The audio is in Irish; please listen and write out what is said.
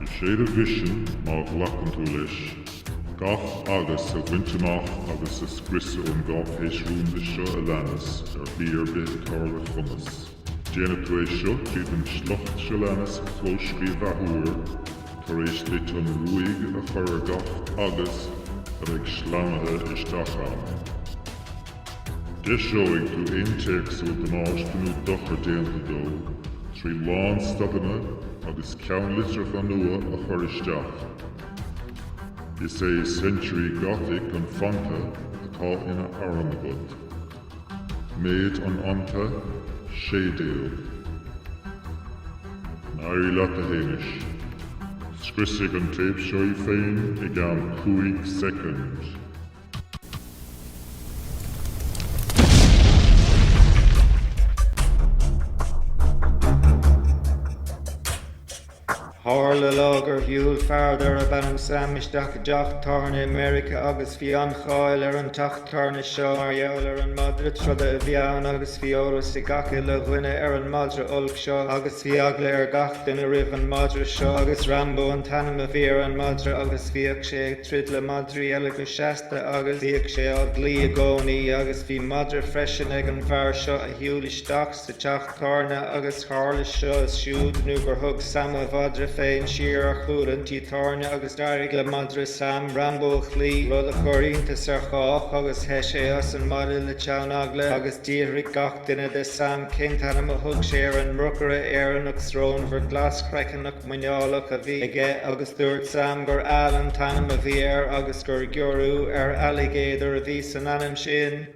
Is é do mhisean, má ghlacann tú leis, gach "agus" a bhaint amach agus a scriosadh ón gcáipéis rúnda seo a leanas ar shlí ar bith atá ar do chumas. Déanfaidh tú é seo tríd an sliocht seo leanas a chlóscríobh athuair tar éis duit an ruaig a chur ar gach "agus" a bheidh sleamhaithe isteach ann. Deiseoidh tú aon téacs a bhfuil damáiste nó dochar déanta dó trí lánstadanna agus ceannlitreacha nua a chur isteach. Is é Century Gothic an fanta atá ina arm agat. Méid an fhanta, 16. Go n-éirí leat a Shéamais. Scriosfaidh an téip seo í féin i gceann cúig soicind. Tharla lá gur shiúil fear darb ainm Sam isteach i dteach tábhairne i Meiriceá agus bhí an-cháil ar an teach tábhairne seo mar gheall ar an madra troda a bhí ann agus bhí eolas ag gach uile dhuine ar an madra olc seo agus bhí eagla ar gach duine roimh an madra seo agus Rambo an t-ainm a bhí ar an madra agus bhíodh sé ag troid le madraí eile go seasta agus bhíodh sé á gcloí i gcónaí agus bhí madra freisin ag an bhfear seo a shiúil isteach sa teach tábhairne agus tharla seo is siúd nó gur thug Sam a mhadra féin siar ar chúl an tí tábhairne agus d'éirigh le madra Sam Rambo a chloí, rud a chuir iontas ar chách agus theith sé as an mbaile le teann eagla agus d'fhiafraigh gach duine de Sam cén t-ainm a thug sé ar an mbrocaire Éireannach srónmhar glaschroiceannach. muineálach a bhí aige agus dúirt Sam gur Al an t-ainm a bhí air agus gur giorrú ar alligator a bhí san ainm sin.